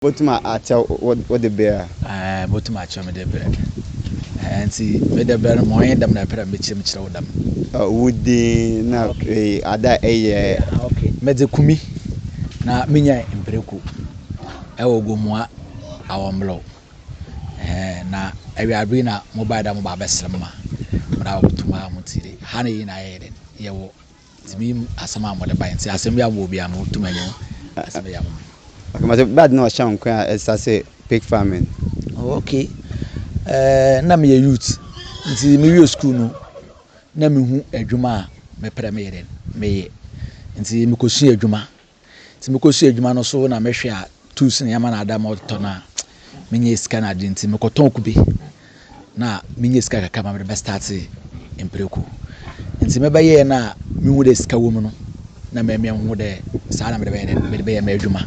Botum akyɛ wo wo de ber a? Ae, botum akyɛ me de ber. Ae, ntsi me de ber no ma ɔnye dɛm na epɛ dɛ mekyɛ mu kyerɛ wo dɛm? Wo dzin na ada a eyɛ. Medze Kumi na minyae mprɛku wɔ Gomoa Awɔmberɛw. Ae, na ewiarber yi na mobae dɛ mobaa bɛserɛ me ma mo dɛ abotum aa mo ntsi de ha no yɛ nyina yɛyɛ dɛn yɛwɔ Nti mi mu asɛm a mode bae nti asɛm biara mowɔ biara mo tumi nye asɛm bɛyɛ ama me. Okay mate bad na ɔhyɛ nkwen a ɛsa se pig farming. Oh okay eh na meyɛ youth nti me wie school no na me hu adwuma a me prɛ me yɛ dɛn me yɛ nti me kɔ sua adwuma Nti mekɔ so yɛ adwuma no so na mehwɛ a tools no yɛma no ada ma ɔtotɔ no a menyɛ sika no ade nti mekɔtɔn kube na menya sika kakra ma mede bɛstarte mpreko. Nti mebɛyɛɛ no a mehu dɛ sika wɔ mu no na mɛmia nhu dɛ saa na mede bɛyɛ dɛ mede bɛyɛ m'adwuma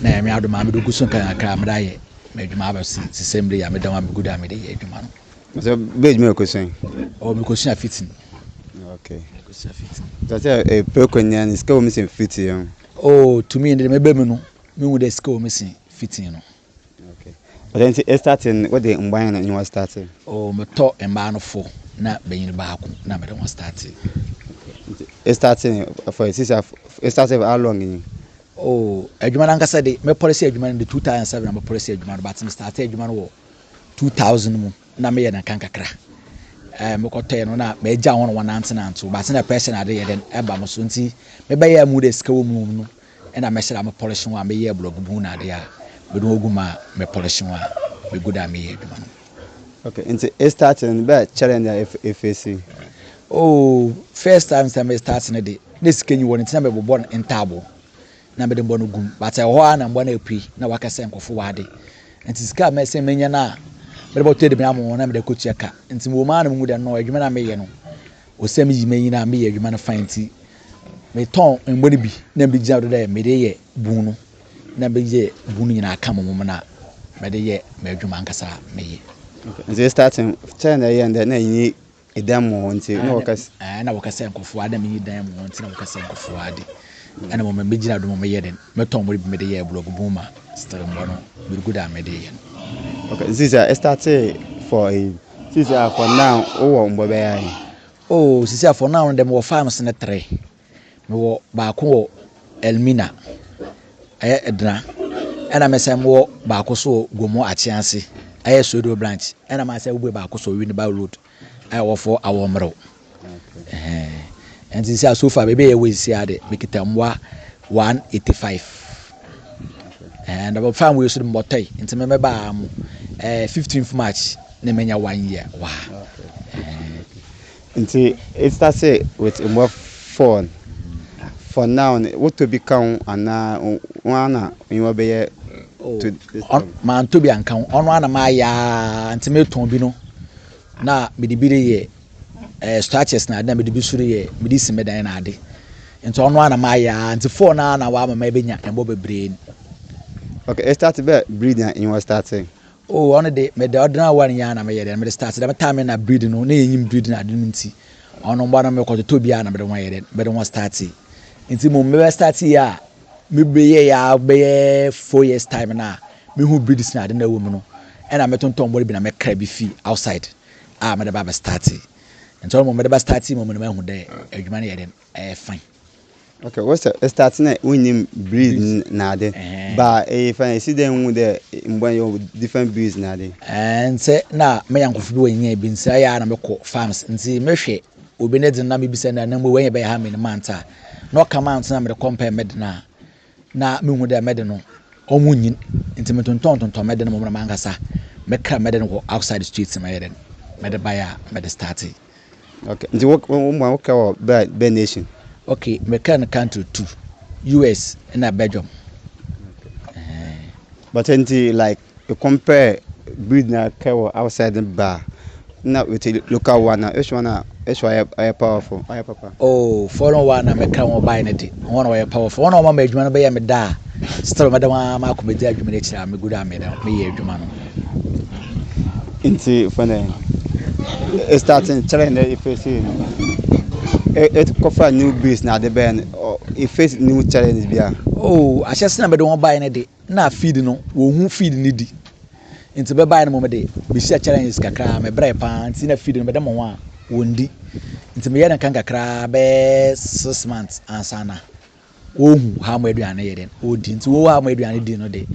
na Nyame adom a mede gu so nkakrankakra a mede ayɛ m'adwuma abɛsi sesɛ mber yi a meda mu a megu do a mede yɛ edwuma no. Sɛ bɛ adwuma yɛ kosua yi. Ɔ mi kosua fitin. Ok. Kosua fitin. Sɛ sɛ ɛpɛ konya ni sika wɔ mi sɛ fitin yɛn. O tumi yɛn de mɛ bɛ mi no mi hu dɛ sika wɔ mi sɛ fitin no. Ok. Ɔdɛ nti e starting wɔ de mbaa yɛn na nyɛ wɔ starting. O mi tɔ mbaa no fo na bɛnyini baako na mɛ de wɔn starting. E starting for sisa e starting for how long yi. O adwuma nankasa de mɛ pɔlisi adwuma no de 2007 na mɛ pɔlisi adwuma no but mi starting adwuma no wɔ two thousand mu na meyɛ no kankakra ɛɛ mekɔtɔɛ no na magya wɔn wɔn nantenante wɔn ase na pɛrɛsɛ na ade yɛ dɛn ɛba mo so nti mebɛyɛ mu de sika wɔ mu no ɛna mɛhyɛ na mepɔlehye wɔn a meyɛ blɔg bu na ade a mede wɔn gu mu a mepɔlehye wɔn a megu da a meyɛ adwuma no. Okay, nti estart no bɛ challenge a efesi. Oh, first time sɛ me start no de na sika nyi wɔ no nti na mebobɔ ntaabo. na mede mbɔ no gum but ɛwɔ hɔ ara na mbɔ no apue na waka sɛ nkɔfo w'ade nti sika a mɛsɛn menya no a mede bɔtɔ aduane ama wɔn na mede akɔtua ka nti mewɔ mu ara na mehu dɛ no adwuma no a meyɛ no ɔsɛ meyi m'anyi no a meyɛ adwuma no fan nti metɔn mbɔ no bi na mede gyina do dɛ mede yɛ bun no na meyɛ bun no nyinaa ka mo mom no a mede yɛ m'adwuma ankasa meyɛ nti starting kyɛn na ɛyɛ ndɛ na ɛnyi dan mu hɔ nti na wɔka sɛ. Ɛɛ na wɔka sɛ nkɔfoɔ ade na meyi dan mu hɔ nti na wɔka sɛ nkɔfoɔ ade. Ɛna mo mmɛmɛ gyina do mo meyɛ den mɛtɔn mo de bi mede yɛ blɔg bun ma still mbɔ no birigu da mede yɛ no. Okay, nti sɛ ɛstate for a sisi a for now wowɔ mbɔ bɛyɛ ayi. Oh sisi a for now no dɛ mewɔ farms ne three. Mewɔ baako wɔ Elmina, ɛyɛ Edna. Ɛna me sɛ mowɔ baako so wɔ Gomo Akyease, ɛyɛ Sodo branch. Ɛna ma sɛ wobue baako so Winneba Road, ɛyɛ wɔfɔ awɔ mmerɛw. Ɛnti sɛ so far baabi a yɛwɔ sisi ade, mekita mmoa 185. Ɛn dɔbɔ fan wei so de mɔtɔe, nti me mɛbaa mo. Ɛɛ 15th March na menya one year wɔ ha. Nti it started with mobile phone for now no wotɔ bi ka ho anaa wɔn ara na nneɛma bɛyɛ oh, to this time. Mantɔ bi anka ho ɔno ara na mayɛ aa nti metɔn bi no na mede bi de yɛ eh, structures na ade na mede bi so de yɛ mede si me dan na ade nti ɔno ara na mayɛ aa nti phone ara na wama ma ɛbɛnya ɛmmɔ bebree. Okay, it started bɛ breed na nneɛma started. Oh ɔno de me de ordinary one yɛ na me yɛ de me de start dɛm time na breed no na yɛ nyim breed na ade no nti ɔno mba no me kɔ toto bi a na me de wɔn yɛ de me de wɔn start nti mo me bɛ start yɛ a me bɛ yɛ yɛ bɛyɛ four years time na me hu breeds na ade na ɛwɔ mu no ɛna me tontɔn bɔre bi na me kra bi fi outside a me de ba bɛ start nti ɔno mo me de ba start mo me na me hu dɛ adwuma no yɛ de ɛyɛ fine. Okay, what's the it's starting at when you breathe nade, but if I see them with the when you different breeds nade. And say na me yanko fi bi when you bin say ya na me ko farms nti me hwe obi ne dina me bi say na na mo when you be ha me manta no come out na me compare me dina na me hu de me de no omu nyin nti me tonton tonton me de no mo na mankasa me kra me de no outside the streets me de me de buy me de starting Okay, nti wo wo mu a wo kɛ wɔ bɛ bɛ nation? Okay, me kɛ no country two, US ɛna Belgium. Okay. But nti like you compare breed na kɛ wɔ outside ne ba na with local one na which one a which one ayɛ powerful ayɛ papa? Oh, foreign one na me kɛ wɔn bae ne de, wɔn na wɔyɛ powerful, wɔn na wɔn ma adwuma no bɛyɛ me da a, still mɛda wɔn a ma akɔ bɛdi adwuma no akyiri a me gu do a me da me yɛ adwuma no. nti fɛn dɛ e starting kyerɛ dɛ e face no e e kɔfa new base na ade bɛyɛ no e face new challenge bi a. oh ahyɛ sena bɛde wɔn baeɛ no de na feed no wɔn ho feed no di nti bɛbaeɛ no mo de mehyia challenges kakra mebrɛ paa nti na feed no bɛde mo ho a wɔn di nti meyɛ no kan kakra bɛyɛ six months ansa na. Wɔhu how mo aduane no yɛ dɛn ɔdi nti wɔhu how mo aduane di no de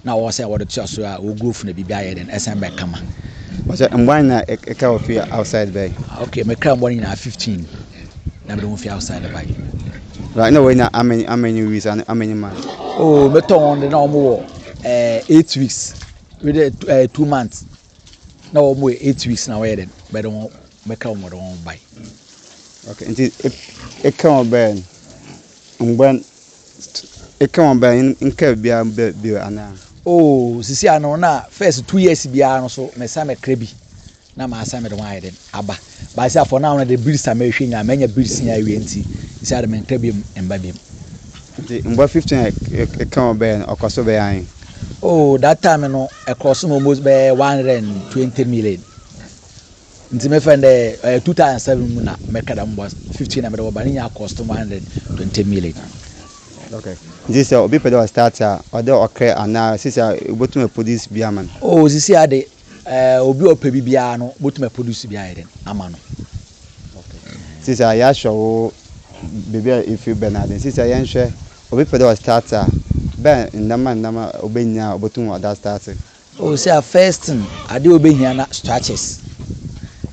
na wɔwɔ sɛ wɔde to aso a wɔgu ofunu bibi ayɛ dɛn ɛsan bɛ kama. Ɔsɛ mboa nyina ɛka wɔ fi outside bɛn. Ok me kra mboa no nyinaa 15 na mede wɔn fi outside bae. Right na wɔn nyinaa how many how many weeks and how many months. Oh me tɔ wɔn de na wɔn wɔ eh, 8 weeks with eh, 2 months. Na wɔn yɛ eight weeks na wɔyɛ dɛn bɛde wɔn bɛka wɔn wɔde wɔn bae. Okay, nti ɛka wɔn bɛn ngbɛn ɛka wɔn bɛn nka biara bɛ bio anaa. Oh, sisi ano na first two years biara no so mɛsa mɛkra bi na masa mɛde wɔn ayɛ dɛn aba. But sɛ for now no de bills a mehwɛ nyinaa manya bills nyinaa awie nti sɛ ade mentra biom mba biom. Nti mboa fifteen a eka wo bɛɛ no ɔkɔ so bɛyɛ ahen? Oh that time no ɛcross no almost bɛyɛ one hundred and twenty million nti mefɛ no dɛ ɛyɛ two thousand seven mu na mɛka dɛm mboa fifteen na mede wɔba ne nyinaa cost one hundred and twenty million. Okay nti sɛ obi pɛ dɛ ɔstart a ɔdɛ ɔkrɛ anaa sisi a wobotum aproduce bi ama no? Oh sisi a de Eh, obi a ɔpɛ bi biara no, wobɛtumi aproduce bi ayɛ dɛn ama no. Sisi a yɛahwɛ wo baabi a ɛfiri bɛn ade sisi a yɛnhwɛ obi pɛ dɛ ɔstart a bɛn nnɛma nnɛma ɔbɛhia a ɔbɛtum ɔda starte. Oh, sɛ a first thing adeɛ ɔbɛhia na structures.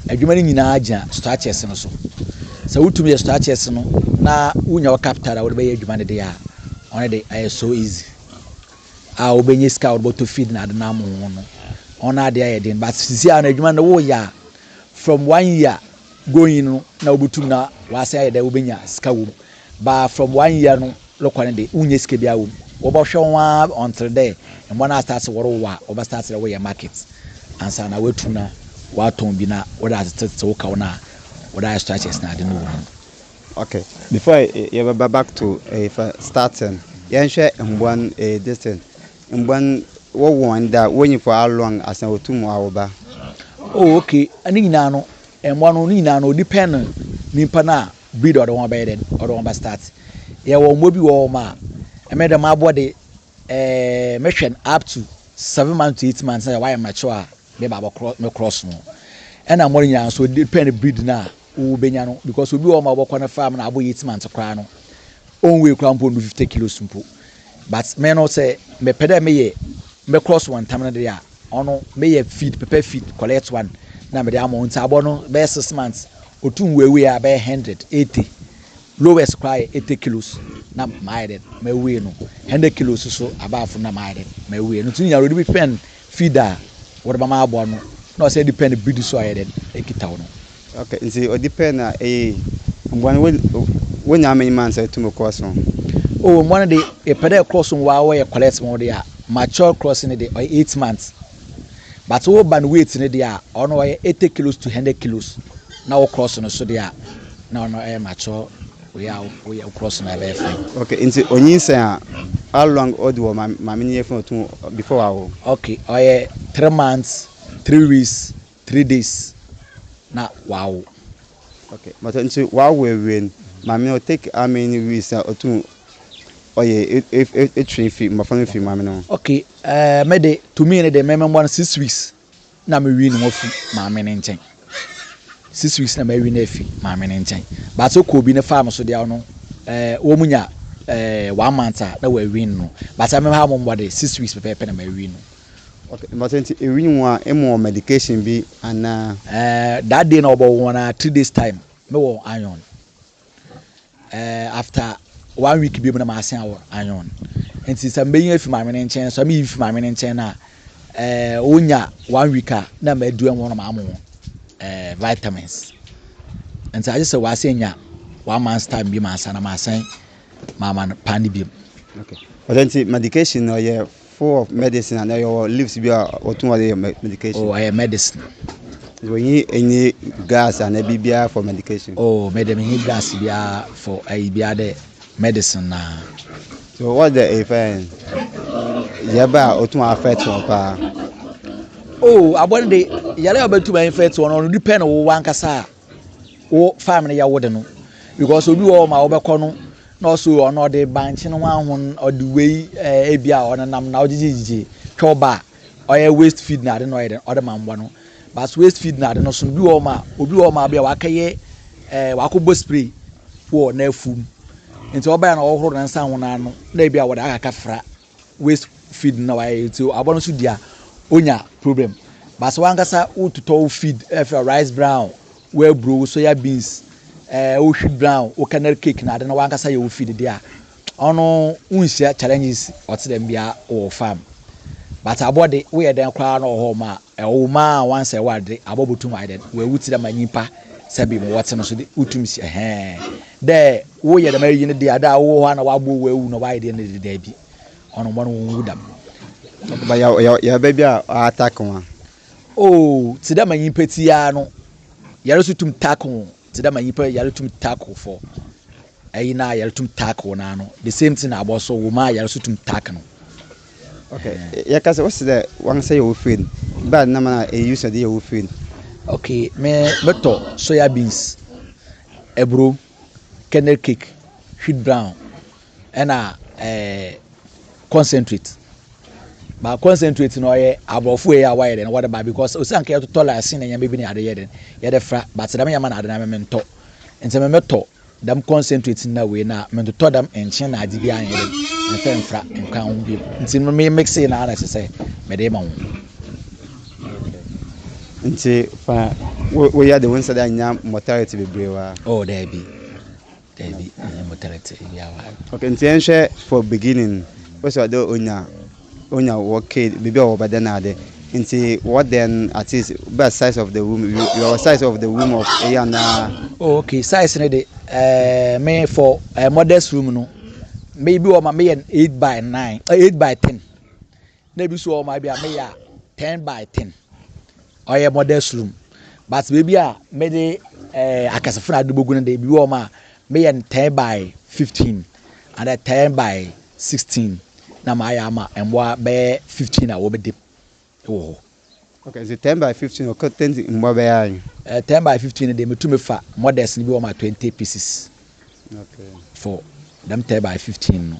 Adwuma no nyinaa gyina structures no so. Sɛ wotumi yɛ structures no na wonya wo capital a wode bɛyɛ adwuma no deɛ a, ɔno de ɛyɛ so easy. a wobenya sika a wɔde bɔtɔ feed na ade nam ho no wɔn ade ayɛ den but sisi a no adwuma no woyɛ a from one year going no na wobetum na wasan ayɛ dɛ wobenya sika wom ba from one year no rekɔ no de wonyɛ sika biara wom wɔbɛhwɛ ho ara ɔntere dɛ mmoa no asase wɔrewo a wɔbɛsase dɛ woyɛ market ansa na woatum na woatɔn bi na wode atetetete wo kaw no a wode ayɛ structures na ade no wɔ mu Okay before yɛbɛba back to ɛyɛfɛ starting no yɛnhwɛ mmoa no ɛyɛ this thing mmoa no wɔwɔ wɔn da wɔnyi for how long asan wɔtum awo ba. Oh okay ne nyinaa no mmoa no ne nyinaa no depend no nipa no a breed a ɔde wɔn abɛyɛ dɛn ɔde wɔn ba start yɛwɔ mmoa bi wɔ hɔ ma ɛmɛ dɛm aboa de ɛɛ mɛhwɛ no up to seven months to eight months na yɛ wɔayɛ mature a meba abɛkorɔ mɛkorɔ so ɛna mmoa no nyinaa nso depend breed no a wo bɛnya no because obi wɔ hɔ ma wobɛkɔ no farm na abɔ yɛ eight months koraa no ɔnwei koraa mpo ndu fifty kilos mpo but me no sɛ mepɛ dɛ meyɛ mɛ cross wɔn ntam no deɛ a ɔno meyɛ feed pepɛ feed collect one na mede ama wɔn nti abɔ no bɛyɛ six months otu nweiwei a bɛyɛ hundred eighty Lois koraa yɛ ete kilos na mayɛ dɛn mawie no, hɛndɛ kilos so abaa fon na mayɛ dɛn mawie no, ntsi no nyardo bi pɛn feed a wɔde bɛma aboa no na ɔsɛ de pɛn biribi so a ɔyɛ dɛn ekita wo no. Ok, ntsi ɔde pɛn a eye yi, mboa no wonya ama nyim ansa etum kɔ ɔson? Oh, mboa no de yɛpɛ dɛ ɛkɔ ɔson wɔ ara wɔyɛ collect ma wo de a, mature crossing no de ɔyɛ eight months. but wo ba no weight no deɛ a ɔno ɔyɛ eighty kilos to hundred kilos na wo cross no so deɛ a na ɔno ɛyɛ mature wei a woyɛ wo cross no ɛbɛyɛ fine. okay nti onyinsɛn a how long ɔdi wɔ maame ne yɛfunu ɔtun before awo. okay ɔyɛ three months three weeks. three days na wawo. Ok but nti wawo awie no maame no take how many weeks na ɔtum ɔyɛ etwere fi mmɔfra no fi maame no ho. Ok ɛɛ me de to me no de me mɛmoa no six weeks na me wi no ho afi maame no nkyɛn six weeks na mawi no afi maame no nkyɛn but sɛ ɔkɔ obi no faa no so deɛ ɔno ɛɛ wɔn nya ɛɛ one month a na wɔawi no but sɛ me ha mo mmɔ de six weeks pɛpɛɛpɛ na mawi no Okay, mpatsɔ nti ewinyim wo a ema wɔ medication bi anaa? Eh, that day na ɔbɔ wɔn a three days time me wɔ iron. Eh, after one week bi mu na ma sen wɔ iron. Nti sɛ mbeyi efi maame ne nkyɛn sɛ meyi fi maame ne nkyɛn na eh onya one week a na ma adua wɔn na ma amu eh vitamins. Nti agye sɛ wɔasen nya one month time bi ma ansa na ma asen ma ama no pa ne bi mu. Okay. Ɔsɛ nti medication na ɔyɛ Full of medicine ana yɛ wɔ leaves bi a wɔtum wɔde yɛ medication. Oh, ɛyɛ medicine. Wɔ yi any gas ana bi biara for medication. Oh, mɛdɛm yi gas biara for ɛyi biara dɛ medicine na. So what the effect? Yɛ ba a otum affect wɔn paa. Oh, abɔn de yɛrɛ a ɔbɛtum affect wɔn no ɔno depend wɔ wankasa a. wo farm no yɛ wo de no because obi wɔ hɔ ma wobɛkɔ no na ɔso ɔno ɔde bankye no ho ahon ɔde wei ɛɛ eh, ebi a ɔnenam na ɔgyegyegyegye twɛ ɔba a ɔyɛ waste feed na ade na ɔyɛ dɛ ɔde ma mmoa no but waste feed na ade no so no bi wɔ hɔ ma obi wɔ hɔ ma bi a wakɛyɛ ɛɛ eh, wakɔbɔ spray wɔ n'afuom nti ɔbɛn na ɔhoro ne nsa ho n'ano na ebi a wɔde akaka fra waste feed na wayɛ nti aboa no nso di a onya problem but sɛ wankasa wototɔ wo feed ɛfɛ rice brown wo aburo wo soya beans ɛɛ eh, wo wheat brown wo kernel cake na ade na wankasa yɛ wo feed de a ɔno wonhyia challenges ɔte dɛm bia wɔ farm but aboa de woyɛ dɛn koraa na ɔwɔ hɔ ma Ɔwo ma a wɔansɛɛ wo adze a botum ayɛ dɛn wɔ ewutsir ama nyimpa sɛ bi mu wɔtse no so de wotum si ɛhɛɛn dɛ wo yɛ dɛm ayi no de a dɛ a wo wɔ hɔ a na wɔabɔ wo ewu na wɔayɛ deɛ no de daabi ɔno mbɔ no wo nnwu dɛm. But yɛ yɛ yɛ bɛ bi a ɔ attack wo a. Oh tse dɛ ma nyimpa tse yi ara no yɛre so tum tack wo. Tse dɛ ma nyimpa yar tum taa korfo, ayi n'ayar tum taa kor no ano, the same thing na abowa so, wo ma ayar so tum taa kn. Okay, yɛka sɛ wose dɛ wankasa yɛ wo feen, bɛa na ma na use de yɛ wo feen? Okay, me mɛtɔ soya beans, aburo, kernel cake, wheat brown, ɛna ɛɛ concentrate ba concentrate no ɔyɛ aborɔfo yɛ a wɔayɛ dɛ wɔde ba because osi anka yɛtotɔ laasin na nyɛma bi ne ade yɛ dɛ yɛde fra but dɛm yɛma na ade na mɛmɛ ntɔ nti mɛmɛ tɔ dɛm concentrate na wei na mɛntotɔ dɛm nkyen na ade bi ayɛ dɛ mɛfɛ nfra nka ho bi nti no mɛ mix na ana sɛ mɛde ma ho. nti fa woyɛ de wo nsa de anya mortality bebree wa. oh daabi. Dabi, menye mo tseetsee biara wɔ ha no. Ok, ntsi yɛnhwɛ for beginning no, wose ɔdɛ onya, onya wɔ kid, biribi a wɔbɛdɛ no ade, ntsi what then, at least bɛyɛ size of the womb, you yɛwɔ size of the womb of eyi anaa? Oh ok, size no de, eh, me for eh, mother's room no, me bi wɔ hɔ a meyɛ no eight by nine, eh, eight by ten, na ebi so wɔ hɔ a bi a meyɛ a ten by ten ɔyɛ modest room but baabi a mede ɛɛ eh, akɛsefo na ade bogu no de ebi wɔ hɔ a meyɛ no ten by fifteen and ten by sixteen na mayɛ ama mmoa bɛyɛ fifteen a wɔbɛdi wɔ hɔ. okay nti ten by fifteen ɔkɔ ten mmoa bɛyɛ ayi. ɛɛ eh, ten by fifteen de metumi fa modest no bi wɔ hɔ a twenty pieces. okay for them ten by fifteen no.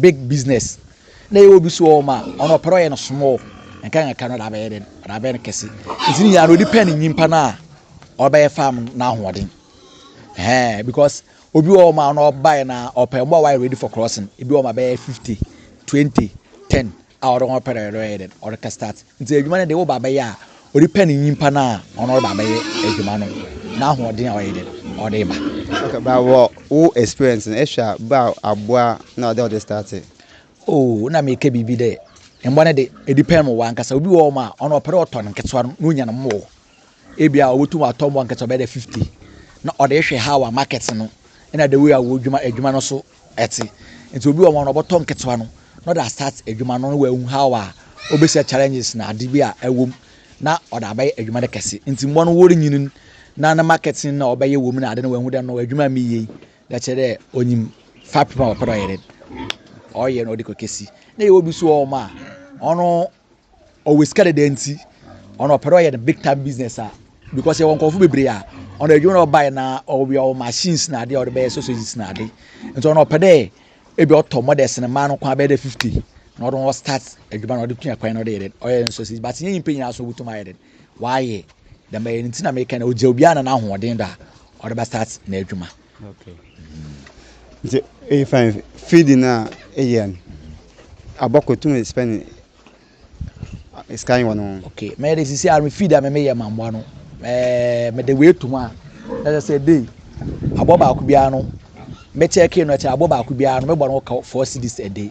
big business na ɛyɛ obi so ɔma ɔno ɔpɛ ɔyɛ no small nka nka no dabɛyɛ den dabɛyɛ no kɛse nti nyinaa no depend nyimpa no a ɔbɛyɛ farm n'ahoɔden ɛɛ because obi wɔ ɔma ɔno ɔbaeɛ na ɔpɛ mmoa wayɛ ready for crossing ebi wɔ ɔma bɛyɛ fifty twenty ten a ɔno ɔpɛ dɛ ɔyɛ dɛn, ɔrekɛ start. Ntsi edwuma no dɛ wo ba bɛyɛ a, orepɛ ne nyimpa no a ɔno ɔreba abɛyɛ edwuma no n'ahoɔdzen a ɔyɛ dɛn, ɔdze reba. Okay, but wɔ wo experience no, ehwɛ a ba a aboa na ɔwɔ dɛ ɔdze start? Oh, nna mereka biribi dɛ, mboa no dze, edepend wɔ wankasa. Obi wɔ hɔ a, ɔno ɔpɛ dɛ ɔtɔn nketsewa no na onya no more. Ebi a obotum atɔ mbowa nketsewa bɛyɛ dɛ fifty na ɔdze ehwɛ how a market no na the way a wodwuma edwuma no so ɛte nti obi wɔ hɔ a ɔbɔtɔ nketewa no na ɔde astart adwuma no na wahu how a ɔbɛhyia challenges na ade bi a ɛwɔ mu na ɔde abɛyɛ adwuma no kɛse nti mmoa no wɔrenyini na ne marketing na ɔbɛyɛ wɔ mu na ade no wahu dɛ no adwuma mi yie na kyerɛ dɛ ɔnyim fapem a ɔpɛ dɛ ɔyɛ dɛ ɔyɛ na ɔde kɔ kɛsi na yɛwɔ bi so wɔ hɔ a ɔno ɔwɔ sika dada nti ɔno ɔpɛ dɛ ɔyɛ no big time business a because yɛwɔ nkurɔfo bebree a ɔno adwuma na ɔbaeɛ na ɔwɔ ɔwɔ machines na adeɛ a ɔde bɛyɛ sausages na ade nti ɔno ɔpɛ dɛ ebi ɔtɔ models ne mmaa no kwan bɛyɛ dɛ fifty na ɔde wɔn start adwuma na ɔde tua kwan na ɔde yɛ dɛ ɔyɛ no sausages but nyɛ nyimpa nyinaa so wotumi ayɛ dɛ wayɛ dɛm ɛyɛ no nti na meka na ɔgya obiara na n'ahoɔden do a ɔde bɛ start n'adwuma. Nti efa feeding no a eyɛ no, abɔkɔ tum spend sika wɔ no ho. Okay, mɛyɛ de sisi a me feed a me meyɛ ma mmoa no, ɛɛ mede wei to mu a, na kyerɛ sɛ day aboa baako biara no mɛkyɛke no kyerɛ aboa baako biara no mɛbɔ no ka four cedis a day.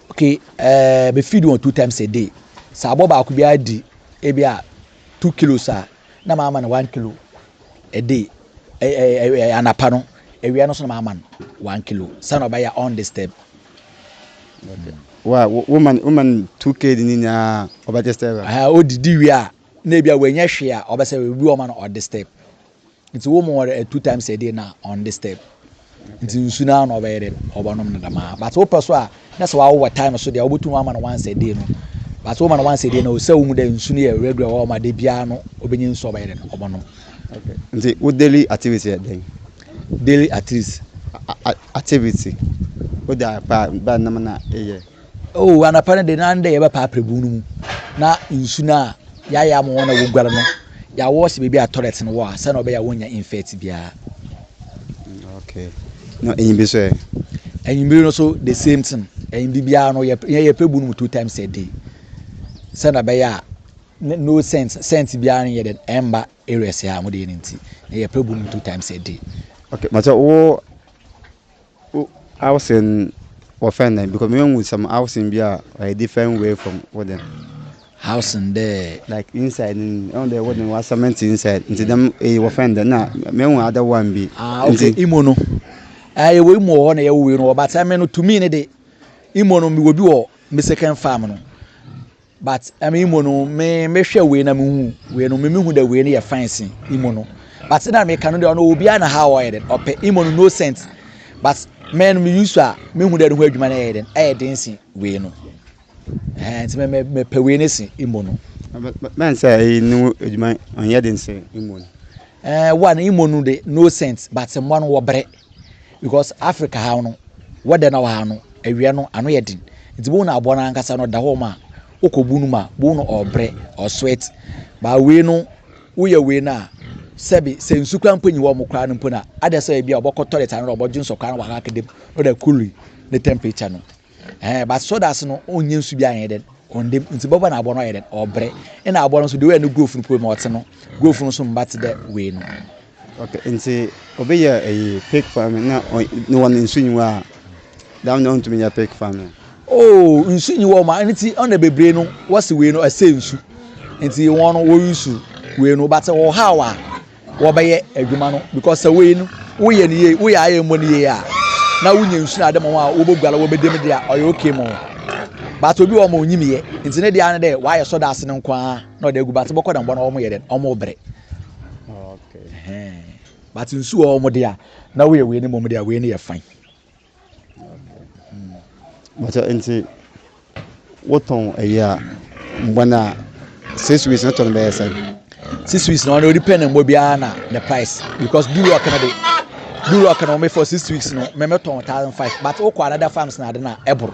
Okay, uh, me feed wɔn two times a day. Sɛ abɔ baako bi adi ebi a two kilos a na maa ma no one kilo a day. Eh, eh, eh, eh anapa no, awia no so na maa ma no one kilo. Sɛ na ɔbɛyɛ undisturbed. Okay. Wa woman woman two kg ni nyinaa ɔbɛgye step. Ah, odidi wie a na ebi a wɔnyɛ hwee a ɔbɛsɛ ebi wɔn ma no ɔde step. Nti wo mu ɔrɛ two times a day na on this step. Nti nsu na na ɔbɛyɛ dɛ ɔbɛnom no dɛm a. But wo pɛ so a na sɛ wawo wɔ time so deɛ wobɛtum ama no once a day no. But wo ma no once a day na ɔsɛ wo hu dɛ nsu no yɛ regular wɔ ɔma da biara no ɔbɛnya nsu ɔbɛyɛ dɛ ɔbɛnom. Okay. Nti wo daily activity yɛ dɛn? Daily activity. Activity. Wo da pa bɛn na na ɛyɛ? Oh, anapa no de na ndɛ yɛbɛpa aprebu no mu na nsu no a yɛayɛ ama wɔn na wɔguare no yɛawɔ sɛ baabi a toilet no wɔ a sɛnea ɔbɛyɛ a wɔnya infect biara. Mm, okay. Na ɛyin bi nso ɛ? Ɛyin bi no so the same thing. Ɛyin bi biara no yɛyɛ prebu no mu two times a day. Sɛnea ɛbɛyɛ a no scent scent biara no yɛ dɛ ɛmba areas a wɔde yɛ no nti yɛyɛ prebu no mu two times a day. Okay, mate wo Wo housing wɔ fɛn dɛn? Because me hu some housing bi a ɔyɛ different way from wo dɛn. Housing dɛ. Like inside no ni, ɛhu dɛ wo dɛn wa cement inside, nti dɛm eyi wɔ fɛn dɛn? Na me hu other one bi. Ah okay, nti... imo no. Ah yɛwɔ imo wɔ hɔ na yɛwɔ wei no wɔ but ɛme no to me no de, imo no mewɔ bi wɔ me second farm no. but ɛmi mo no me me hwɛ wei na me hu wei no me me hu dɛ wei no yɛ fine sin imo no but na me ka no deɛ ɔno obiara na ha ɔyɛ dɛ ɔpɛ imo no no sense but mɛ no me use a me hu dɛ no ho adwuma no ɛyɛ dɛ ɛyɛ den sin wei no ɛɛ nti mɛ mɛ pɛ wei no sin imo no. bɛn sɛ ɛyi no adwuma ɔnyɛ den sin imo no. ɛɛ wa no imo no de no sense but mmoa no wɔbrɛ. because Africa ha no weather na wɔ ha no awia no ano yɛ den nti bohu no aboa no ankasa no ɔda hɔ ma wokɔbu no ma bohu no ɔbrɛ ɔsweat baa wei no woyɛ wei no a sɛbi sɛ nsu kora mpo nyi wɔ mo koraa no mpo no a ada sɛ ebi a wɔbɛkɔ toilet ano na wɔbɛdwo nsɔ koraa na wɔakaka dam na wɔde akuli ne temperature no Eh, but sodas no ɔnyɛ nsu bi ayɛ dɛn ɔndem nti bɔbɔ na abɔ no ayɛ dɛn ɔbrɛ ɛna abɔ no so deɛ ɔyɛ no growth no poe ma ɔte no growth no so mba te dɛ wei no okay nti ɔbɛyɛ ɛyi pig farming na ne wɔn nsu nyiwa a dam na ɔntumi nyɛ pig farming oh nsu nyiwa ɔma ɛne ti ɔna bebree no wɔsi wei no ɛsɛ nsu nti wɔn no wɔyi su wei no but ɔhaw a wɔbɛyɛ adwuma no because sɛ wei no woyɛ no yie woyɛ ayɛ mmɔ no yie a na wonya nsuo ade ma wɔn a wɔbɛgua na wɔbɛdi mu deɛ a ɔyɛ okay ma wɔn but obi wɔn ɔnyim yɛ nti ne deɛ ano dɛ wɔayɛ sɔ daase no nko ara na ɔde agu but bɔkɔ dɛm bɔ na wɔn yɛ dɛ wɔn brɛ but nsuo wɔn deɛ a na woyɛ wei no mmom deɛ a wei no yɛ fine. Mpakyɛw, nti wotɔn ɛyɛ a mbɔ no a six weeks no tɔ no bɛyɛ sɛn? Six weeks no ɔno depend mbɔ biara na ne price because do lock no de do lock no me for six weeks no me me tɔn thousand five but wokɔ another farms na ade na ɛboro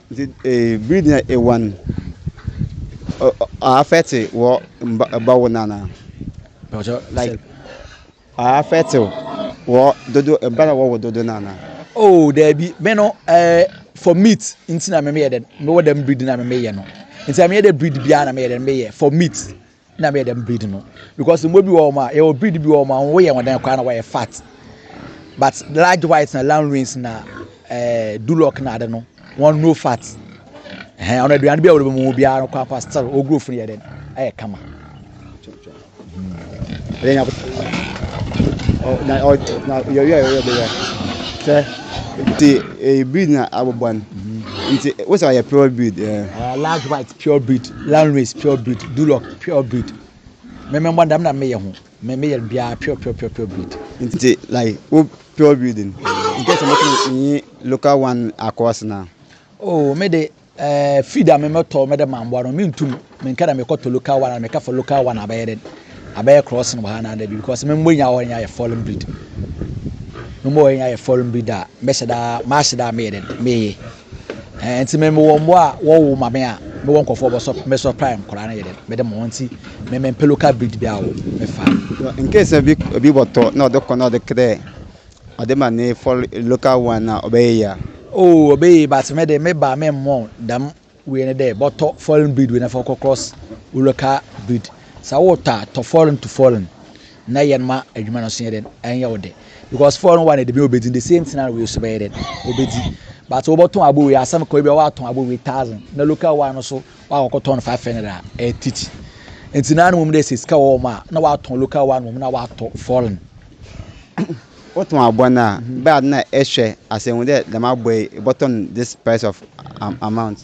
Nti eh, biri dina ewan afɛte wɔ mba wo nana. Like afɛte wɔ dodo mba na wɔwɔ dodo nana. Oh, daabi, me no eh, for meat nti na me meyɛ dɛn, mewɔ dɛm breed na me meyɛ no. Nti na meyɛ dɛ breed biara na meyɛ dɛn meyɛ for meat. na meyɛ dɛm breed no because mmoa bi wɔ hɔ a yɛwɔ breed bi wɔ hɔ a wɔn yɛ wɔn dan koraa na wɔyɛ fat but large white na land wings na ɛɛ eh, duloc na ade no wɔn no fat ɛhɛn ɔno aduane bi a wɔde bɛmu biara no kɔ akɔ still wɔn growth no yɛ dɛ ɛyɛ kama ɛyɛ nyabo ɔ na ɔ na yɛwia yɛwia bɛyɛ sɛ. nti eh, breed na abobɔ no nti wosɛ ɔyɛ pure breed eh. uh, large white Pure breed, landrace pure breed, duloc pure breed, me me mbɔ dɛm na me yɛ ho, me me yɛ biara pure pure pure pure breed. Nti like wo pure breed no, in case mo tumi nyi local one across na. Oh me de eh, feed a me me tɔ me de ma mboa no me ntum me nka dɛ me kɔ tɔ local one ana me ka for local one abɛyɛ dɛn abɛyɛ crossing wɔ ha ana dɛbi because me mbɔ nyinaa wɔ hɔ nyinaa yɛ foreign breed, me mbɔ wɔ hɔ nyinaa yɛ foreign breed a mɛhyɛ da maa hyɛ da a me yɛ dɛn me ye. Eh, nti me mewɔ mmoa a wɔwo ma me a mewɔ nkɔfoɔ bɔsɔ mesɔ prime nkɔla no yɛ dɛ mede mo nti me me mpɛ local breed bi a wo mefa in case bi bi wɔtɔ na ɔde kɔ na ɔde kɛdɛ ɔde ma ne for local one na ɔbɛyɛ ya oh ɔbɛyɛ but me de me ba me mmɔ dam wei ne dɛ bɔtɔ foreign breed wei na fɔ kɔ cross local breed sa wotɔ a tɔ foreign to foreign na yɛn ma adwuma no so yɛ dɛn ɛnyɛ wo dɛ because four no one de mi obedi the same thing na wei so bɛyɛ dɛn obedi but wɔbɛtɔn abo wei asɛm kɔ ebi a wɔatɔn abo wei thousand na local one no so wɔakɔkɔ tɔn five hundred a ɛyɛ titi nti na anum de sɛ sika wɔ wɔn a na wɔatɔn local one wɔn na wɔatɔ foreign. wotɔn aboa no a bɛa na ɛhwɛ asɛ hu dɛ dɛm aboa yi bɔtɔn this price of amount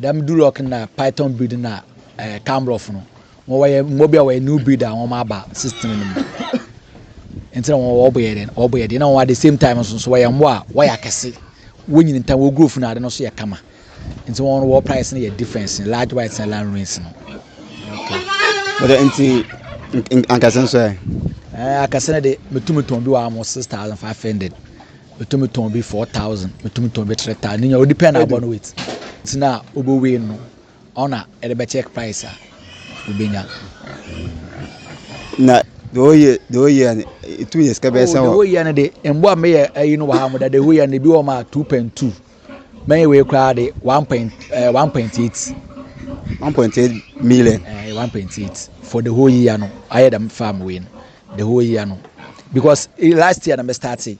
Dɛm Duroc na Python breed na ɛɛ Camrough no, wɔn wɔyɛ mmoa bi a wɔyɛ new breed a wɔn aba system no mu. Nti na wɔn wɔbɔ yɛ dɛ, wɔbɔ yɛ dɛ. Na wɔn at the same time nso nso wɔyɛ mmoa a wɔyɛ akɛse, wɔnyini ntɛm, wɔn growth na ade no nso yɛ kama. Nti wɔn no wɔn price no yɛ difference, large whites na large rings no. Okay. Wɔde nti ankasa nso ɛ. Ɛɛ akɛse no de metumi tɔn bi wɔ amo six thousand five hundred. metumi tɔn bi four thousand metumi tɔn bi three thousand ne nyɛ o depend na abɔ no wait ti na obo wei no ɔna ɛde bɛ check price a obenya. na the whole year the whole year etumi yɛ sika bɛyɛ sɛ wɔ. the whole year no de mboa mi yɛ ɛyi no wɔ ha mo da the whole year no ebi wɔ ma two point two. Mɛyɛ wei koraa de one point ɛɛ eh, one point eight. one point eight million. ɛɛ eh, one point eight for the whole year no ayɛ dɛm farm wei no the whole year no because eh, last year na mɛ start it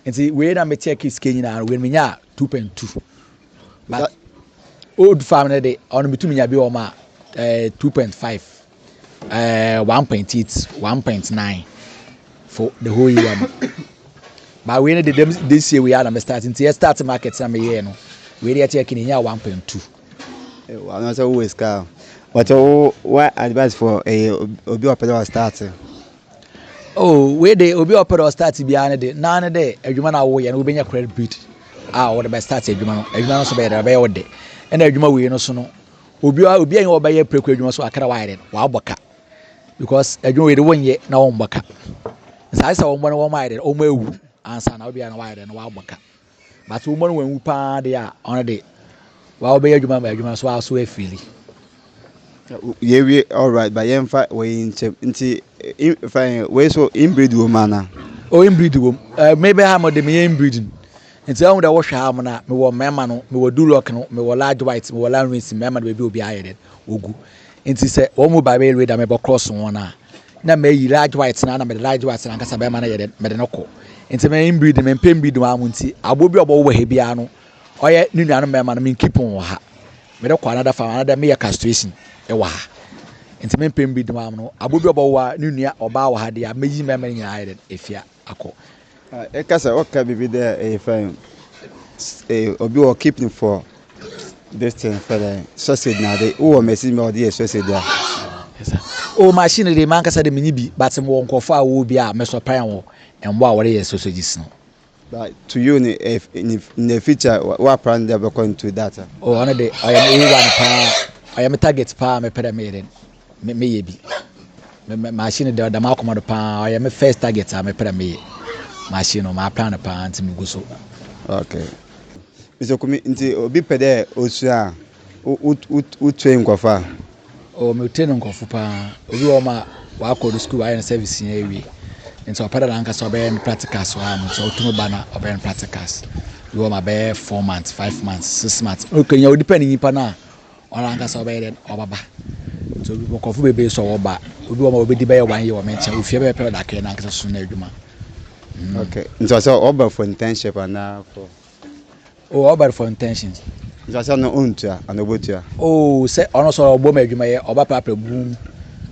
nti wei na mɛ tiɛ kids kɛ nyinaa wei mɛ nya two point two but old farm no de ɔno mɛ tumi nya bi wɔ ma ɛɛ eh, two point five. eh, one point eight one point nine for the whole year no ba wei no de dem this year wei a na me start nti yɛ start market na meyɛɛ no wei de yɛkyɛ kini nya one point two. Eh, wa na sɛ wowɔ sika a but wo wa advice for ɛyɛ eh, obi ɔpɛ dɛ ɔstart oh wei de obi ɔpɛ dɛ ɔstart biara no de naa ne dɛ adwuma no a woyɛ no wobɛnya credit bit a wɔde bɛ start adwuma no adwuma no nso bɛyɛ dɛ bɛyɛ wo de ɛna adwuma wei no so no obi a obi a yɛn ɔbɛyɛ preko adwuma so akra wayɛ no wabɔ ka because adwuma wei de wɔn nyɛ na wɔn bɔ ka saa sɛ wɔn bɔ no wɔn ayɛ no wɔn awu ansa na obi a na wayɛ no wabɔ ka but wɔn bɔ no wɔn awu paa de a wɔn de wɔn bɛyɛ adwuma ma adwuma so aso afiri. yɛwie alright ba yɛmfa wɔyi nkyɛm nti fa wei so inbreed wɔ mu ana. o inbreed wɔ mu mebɛ ha mo de meyɛ inbreeding. Ntsi ahu dɛ wɔhwɛ ha mo no a, mowɔ mmarima no, mowɔ Duroc no, mowɔ large white, mowɔ Lanrins, mmarima no beebi obiara ayɛ dɛn, wogu. Ntsi sɛ hɔn mu biara bɛyɛ Raider mebɔ cross hɔn a, nna meyi large white no ana mede large white no ankasa barima no yɛ dɛn, mede no kɔ. Ntsi me inbreeding, memmpɛ inbreeding wɔ ha mo ntsi, abowa bi a ɔbɔwo wɔ ha biara no, ɔyɛ no nuanom mmarima no, menkeep hɔn wɔ ha. Mede kɔ another farm, anaadɛ meyɛ castration wɔ ha. Ntsi memmpɛ inbreeding wɔ ha mo no, abowa bi a ɔbɔwo a no nua ɔbaa wɔ ha deɛ a, meyi mmarima no nyinaa ayɛ dɛn, efi ha. akɔ. Eka sɛ ɔka biribi dɛ yɛfrɛ no eh obi wɔ keep no for this thing fɛ dɛ sausage na ade wowɔ machine bi a wɔde yɛ sausage a. O machine de mankasa de menni bi but mewɔ nkurɔfo a wɔwɔ bi a me supply wɔn mmoa a wɔde yɛ sausages no. But to you no eh, in in the future wa- woapra no dɛ wobɛkɔ into that a. O ɔno de ɔyɛ me owura no paa ɔyɛ me target paa a mepɛ dɛ meyɛ dɛn Me meyɛ bi. Me me machine da da m'akoma do paa ɔyɛ me first target a mepɛ dɛ meyɛ machine no m'aplan no paa nti megu so. Okay. Mr Kumi nti obi pɛ dɛ osua a wo wo wo wo train nkɔfo a? Oh me train nkɔfo paa obi wɔ hɔ ma wakɔ do school wayɛ ne service nyinaa ewie nti ɔpɛ dɛ nankasa ɔbɛyɛ ne practicals wɔ ha nom so otum ba na ɔbɛyɛ ne practicals bi wɔ hɔ ma bɛyɛ four months five months six months okay nya o depend nyimpa no a Ɔno ankasa ɔbɛyɛ dɛn? Ɔbɛba. Nti obi nkurɔfo bebree sɛ wɔba. Obi wɔ hɔ a obedi bɛyɛ one year wɔ me nkyɛn. Ofie bɛyɛ pɛrɛda kɛn na ankasa so na adwuma. Mm. Okay. Nti ɔsɛ ɔba for internship anaa for. Oh, ɔba for intentions. Nti ɔsɛ no ontua ana obotua. Oh, sɛ ɔno sɛ ɔbɔ mu adwuma yɛ ɔba prapra boom.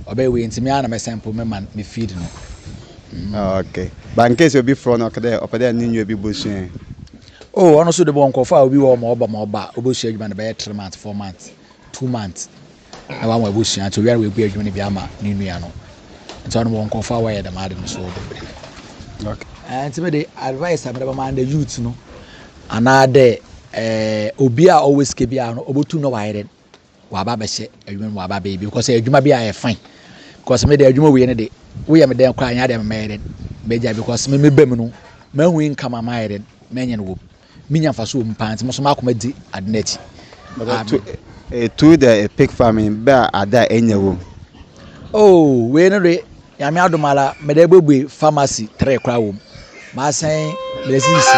Ɔbɛyɛ wei nti me ara na me sample me man me feed no. Mm. Oh, okay. But in case obi frɔ no ɔkɛdɛ ɔpɛ dɛ ne nua bi bosua. Oh ɔno so de bɔ nkurɔfo a obi wɔ ɔma ɔba ma ɔba obosua adwuma no bɛyɛ three months four months two months na wɔn abusua nti obiara wɔagu adwuma no bi ama ne nua no nti ɔno wɔ nkurɔfo a wɔyɛ dɛm ade no so bebree eh, nti mede advice a mede bɛma the youth no anaadɛ eh, obi a ɔwɔ sika bi a no ɔbɛtu na wayɛ dɛn waba bɛhyɛ adwuma mu waba bɛyɛ bi because adwuma bi a yɛ fine because me de adwuma wie no de woyɛ me dɛn kɔ a nyɛ adeɛ mɛyɛ dɛn mɛgya because me mebɛ mu no mahu income a mayɛ dɛn mɛnyɛ no wɔ mu menya mfa so wɔ mu paa nti mo so makoma di ade no akyi ɛtu dɛ ɛpik farming bɛ a ada a ɛnyɛ wɔ mu oh wei no de nyame adom ala mede bɛbue pharmacy tere koraa wɔ mu maasɛn mede sisi